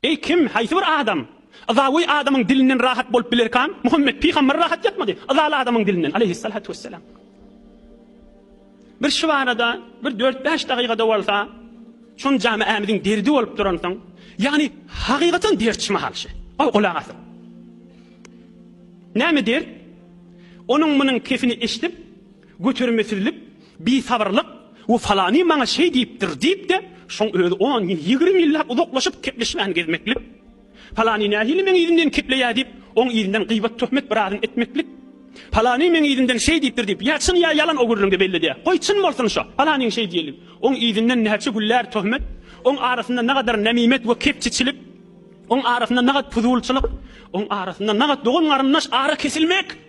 Eý, kim, haýsy bir adam yzawy adamyň dilinden rahat bolup bilerka? Muhammet pygamber rahat ýatmady yzaly adamyň dilinden, aleýhissalatu wessalam. Bir şu barada bir dört-bäş dagygada bolsa, şon jamaämiziň derdi bolup duransoň, ýagny hakykatyň dert şu mahal şu. Goý, gulak asyň. Näme dert? Onuň munuň kefini eşidip, Götermesizlik, bisabyrlyk, we falany maňa şeý diýipdir diýip-de, şoň özi on ýyl, ýigrimi ýyllap uzaklaşyp gepleşmän gezmeklik. Falany nähili meň yzymdan kepleýär diýip, oň yzyndan gyýbat-töhmet bir azyn etmeklik. Falany meň yzymdan şeý diýipdir diýip, ýa çyn, ýa ýalan o gürrüňde belledýär. Goý, çyn bolsun şo, falanyň şeý diýenligi. Oň yzyndan näçe güller töhmet, oň arasynda nagadar nemimet we kepçiçilik, oň arasynda nagat puzulçylyk, oň arasynda nagat dogan-garyndaş ara kesilmek.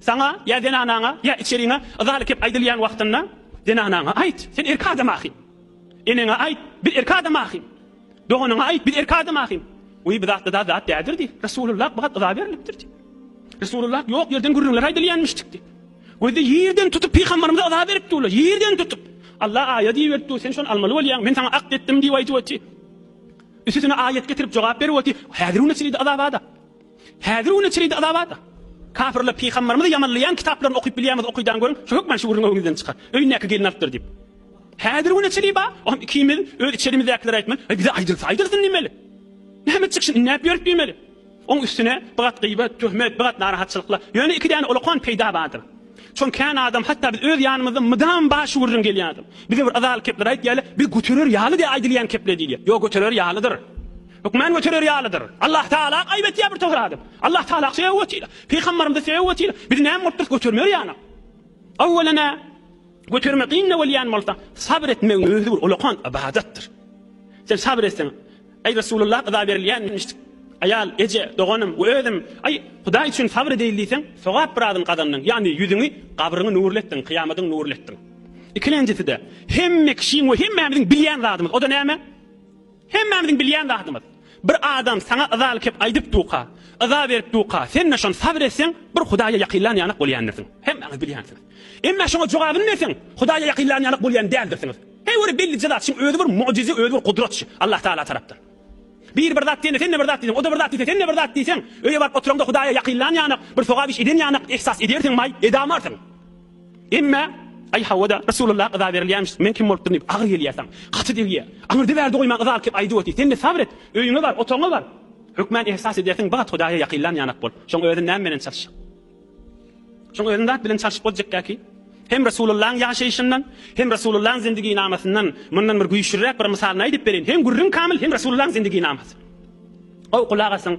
Saňa ýa zenanaňa, ýa içeriňe yzaly kep aýdylýan wagtynda, zenanaňa aýt, sen erkek adam ahym. Eneňe aýt, biz erkek adam ahym. Doganyňa aýt, biz erkek adam ahym. Wiý, bu zatda da zat däldir diý. Resulullah bu hat yza berlipdir diý. Resulullah ýok ýerden gürrüňler aýdylýanmyşdyk diý. Gözde ýerden tutup pygambarymyza yza berip durlar, ýerden tutup. Allah aýat iberip dur, sen şony almaly bolýaň, men saňa akt etdim diýip aýdyp oty. Üsüsine aýat getirip jogap berip oty. Häzir-u neçelidi yza bada. Häzir güne çenede yzawada. Kapyrlar pygambarymyzy ýamanlaýan kitaplaryny okyp bilýäňiz okydaň görüň, şu hökman şüwrüň öňüňizden çykar. Öýündäki gelin alypdyr diýip. Häzir güne çenli ba, olam ikimiz öz içerimizdäkiler aýtman, aý bize aýdylsa aýdylsyn diýmeli. Näme çykşyn inläp ýörüp diýmeli. Oň üstüne bir gat gyýbat, töhmet, bir gat narahatçylyklar. Ýöne iki däne olakan peýda bardyr. Şony kän adam hatda biz öz ýanymyzda mydam ba şüwrüň gelýädir. Bize bir yzaly kepler aýtýarlar, biz göterer ýaly diýip aýdylýan kepler diýilýär. Ýok göterer ýalydyr. Hökman göterer ýalydyr. Allah Tagala aýyp etýär bir togry adam. Allah Tagala söýgi wesile. Pygambarymyza söýgi wesile. Biz näme bolup durys götermer ýaly. Awwelana götermek kynda bolýan bolsa, sabr etmegiň özi bir ulakan ybadatdyr. Sen sabr etseň, aý Resulullah yza berilýänmişdik. Aýal, eje, doganym we özüm, aý Hudaý üçin sabr edeýin diýseň, sogap biradyny gazandyň, ýagny ýüzüňi, gabryňy nurly etdiň, kyýamadyň nurly etdiň. Ikilenjisi-de, hemme kişiň we hemmämiziň bilýän zadymyz, o-da näme? Hemmämiziň bilýän zadymyz. Bir adam saňa yzaly kep aýdyp duka, yza berip duka, sen-de şony sabyr etseň, bir Hudaýa ýakynlan ýanak bolýandirsiň. Hemmäňiz bilýänsiňiz. Emma şoňa jogabyny berseň, Hudaýa ýakynlan ýanak bolýan däldirsiňiz. Heý, ol bellije zat, şuň özi bir mugjyza, özi bir gudrat şu, Allah Tagala tarapdan. Biri bir zat diýende, sen-de bir zat diýseň, o-da bir zat diýse, sen-de bir zat diýseň, öýe baryp oturaňda Hudaýa ýakynlan ýanak, bir sogap iş eden ýanak ihsas edersiňmaý, edamarsyň. Emma Aý hawa-da, Resulalla yza berilýämiş, men kim bolup durun diýip, agyr gelýär saň. Gaty degýär. Aňyrda bärde goýman yza alkyp aýdyp otyr. Sen-de sabr et. Öýüňe bar, otagyňa bar. Hökman ehsas edersiň, bigat Hudaýa ýakynlan ýanak bol. Şoň özün näme bilen çalyş. Şoň özün zat bilen çalyşyp boljakka ki, hem Resulullaň ýaşaýşyndan, hem Resulullaň zindiginamasyndan mundan bir güýçlüräk bir mysalyny aýdyp bereýin. Hem gürrüň kamyl, hem Resulullaň zindiginamasy. Goý, gulak asyň.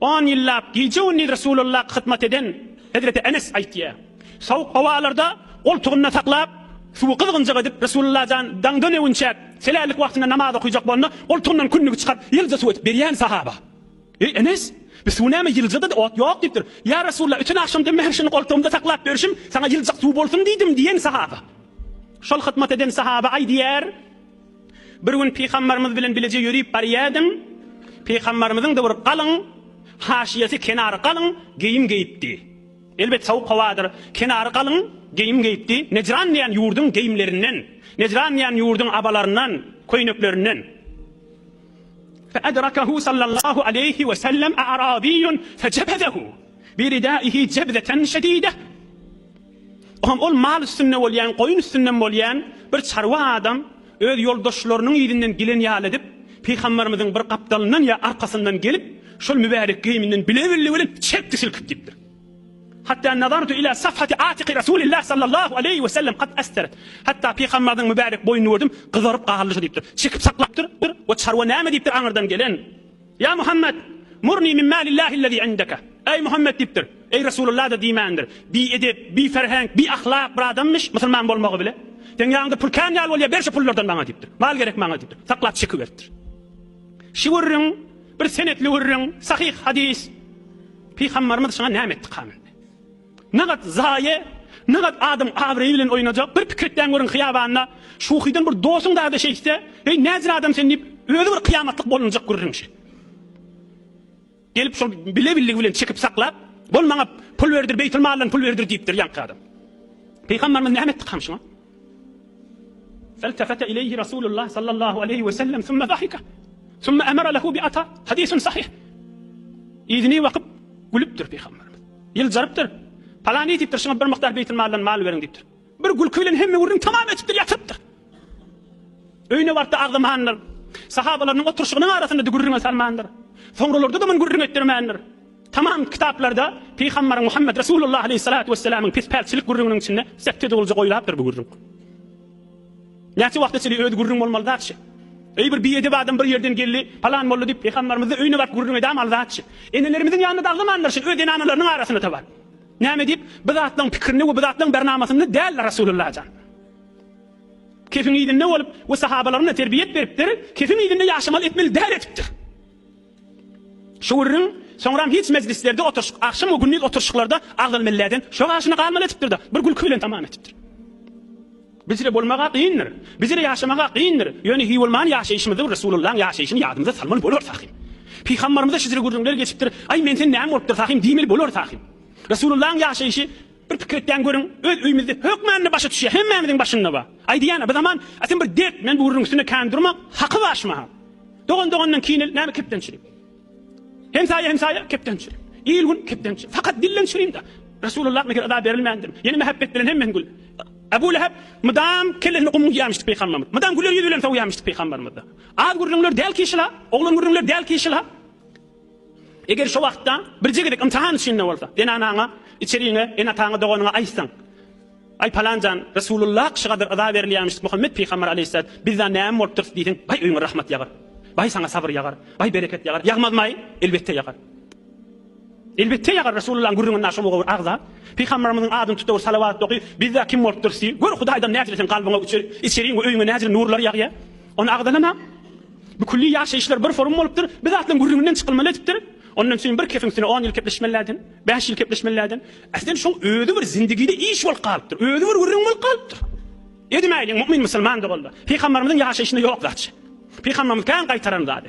On ýyllap gije-gündiz Resulalla hyzmat eden hezreti Enes aýtýar, Sowuk howalarda goltugynda saklap, suwy gyzgynjak edip, Resulalla jan daňdan öwünçäk, selällik wagtynda namaz okaýjak bolanda, goltugyndan kündügi çykaryp, ýylja suw edip berýärdi sahaba. Eý, Enes! Bu suw näme, ýylja-da ot ýok diýipdir. Ýa Resulalla, öten agşam diýip, mähri şuny goltugymda saklap berşim, saňa ýyljak suw bolsun diýdim diýen sahaba. Şol hyzmat eden sahaba aýdýar. Bir gün pygambarymyz bilen bileje ýörüp barýardyň. Pygambarymyzyň da bir galyň, haşyýasy kenary galyň geýim geýipdi. Elbet sowuk howadyr. Kenary galyň geýim geýipdi. Nejran diýen ýurduň geýimlerinden, Nejran diýen ýurduň abalaryndan, köýneklerinden. Fe edrakehu sallallahu aleýhi we sellem a'rabiýun fe jebezehu bi ridaihi jebzeten şedideh. Hom ol mal üstünde bolýan, goýun üstünden bolýan bir çarwa adam öz ýoldaşlarynyň yzyndan gelen ýaly edip, pygamberimiziň bir gapdalyndan ýa arkasyndan gelip, şol mübärek geýiminden bile-bille bilen çekdi silkip diýipdir. Hatda nazartu ila safhati atiqi Rasulillah sallallahu aleýhi we sellem kad asteret. Hatda pygamberimiziň mübärek boýnuny gördüm, gyzaryp galdy şu diýipdir. Çekip saklapdyr we çarwa näme diýipdir aňyrdan gelen. Ýa Muhammet! Murni min malillahi'l-lezî indeke. Eý Muhammet diýipdir. Eý Resulullah-da diýmändir. Biedep, biferhenk, biahlak bir adammyş, musulman bolmagy bile. Seň ýaňyňda pul kän ýaly bolýar, ber şu pullardan maňa diýipdir. Mal gerek maňa diýipdir. Saklap çekiberipdir. Şu gürrüň bir senetli gürrüň, sahyh hadys. Pygambarymyz şuňa näme etdi, kamy? Nagat zaýe, nagat adam abraýy bilen oýnajak, bir pikir etýän görüň hyýabanda şuhydan bir dosyň dada şeýtse, eý näzir adam sen diýip özi bir kyýamatlyk bolunjak gürrüň şe. Gelip şol bile billigi bilen çekip saklap, bol maňa pul berdir beýtilmaldan pul berdir diýipdir ýaňky adam. Pygambarymyz näme etdi kaň şuňa? Feltefete ileýhi Rasulullah sallallahu aleýhi we sellem sümme zahika, sümme emere lehu bi ata, hadisun sahih. Yzyny bakyp, gülüpdir Pygamberimiz. Ýyljarypdyr. Palany diýipdir, şuňa bir mukdar beýtilmaldan mal beriň diýipdir. Bir gülki bilen hemme gürrüň tamam etipdir, ýatyrypdyr. Öýüne barypda agzamandyr. Sahabalarynyň oturyşygynyň arasynda-da gürrüňe salmandyr. Soňralarda-da muny gürrüň etdirmändir. Tamam kitaplarda Pygambar Muhammed Resulullah aleyhissalatu wesselamyň pis-pältçilik gürrüňiniň içinde sekte dogulja goýlapdyr bu gürrüň. Näçe wagta çenli özi gürrüň bolmaly zatçy? Eý bir biedep adam bir ýerden geldi, palan molla diýip Pygambarymyzy öýüne baryp gürrüň edämaly zatçy. Enelerimiziň ýanyna daglamanlar şin öz zenanalarynyň arasyna tabar. Näme diýip, bu zatlaryň pikirinde we bu zatlaryň bernamasynda däldir Resulullah jan. Kefiň yzynda bolup we sahabalaryna terbiýet beripdir, kefiň yzynda ýaşamaly etmeli däl edipdir. Şu gürrüň soňram hiç mejlislerde oturyşyk, agşam we gündiz oturyşyklarda agzaly melläden şo gaşyny galmaly etipdir-de, bir gülki bilen tamam etipdir. Bizre bolmaga kyndyr. Bizre ýaşamaga kyndyr. Ýöne hiý bolman ýaşaýşymyzda bir Resulullaň ýaşaýşyny ýadymyza salmaly bolar Sahym. Pygambarymyza şizre gürrüňler geçipdir, Aý, men sen näm bolupdyr Sahym diýmeli bolar Sahym. Resulullaň ýaşaýşy Bir pikir etýän görüň, öz öýümizde hökmände başa düşýä, hemmämiziň başynda bar. Aýdýan, bu zaman atin bir dert, men bu gürrüň üstünde kän durmak, haky bar şu mahal. Dogan dogandan kinel, näme kepdençilik. Hemsaýa hemsaýa kepdençilik. Il gün kepdençilik. Fakat dilden çyryň-da. Resulullah meger yza berilmändirmi? Ýene mähebbet bilen hemmen gül. Abu Leheb mydam kellesini gum guýýamyşdy pygamberimiz. Mydam güler ýüz bilen sowýamyşdy pygamberimiz. Az gürrüňler däl kişila, oglan gürrüňler däl kişila. Eger şo wagtda birje gezek ymtahan içinde bolsa, zenanaňa, içeriňe, ene-ataňa, doganyňa aýtsaň, Aý, palan jan, Resulullah kişi gadyr yza berilýärmişdik, Muhammet pygamber aleýhissalat, bizda näme bolup durus diýseň, baý öýüňe rahmat ýagar. Baý saňa sabyr ýagar. Baý bereket ýagar. Ýagmazmaý? Elbetde ýagar. Elbetde ýagar Resulullahyň gürrüňinde şo mugawir agza, pygamberimiziň adyny tutawir salawat oky, bizda kim bolup durus diý, gör Hudaýdan näjiresiň kalbyňa, içeriň we öýüňe näjire nurlar ýagýa. Ony agzalamam. Bu külli ýaşaýyşlar bir forum bolupdyr, bir zatlaryň gürrüňinden çykylmaly edipdir. Ondan süň bir kefiň üstüne on ýyl kepleşmelläden, bäş ýyl kepleşmelläden. Äsli şoň özi bir zindigide iş bolup galypdyr, özi bir gürrüň bolup galypdyr. Edimäýliň, mu'min musulman doganlar, pygambarymyzyň ýaşaýşynda ýok zatçy. Pygambarymyz kän gaýtaran zady.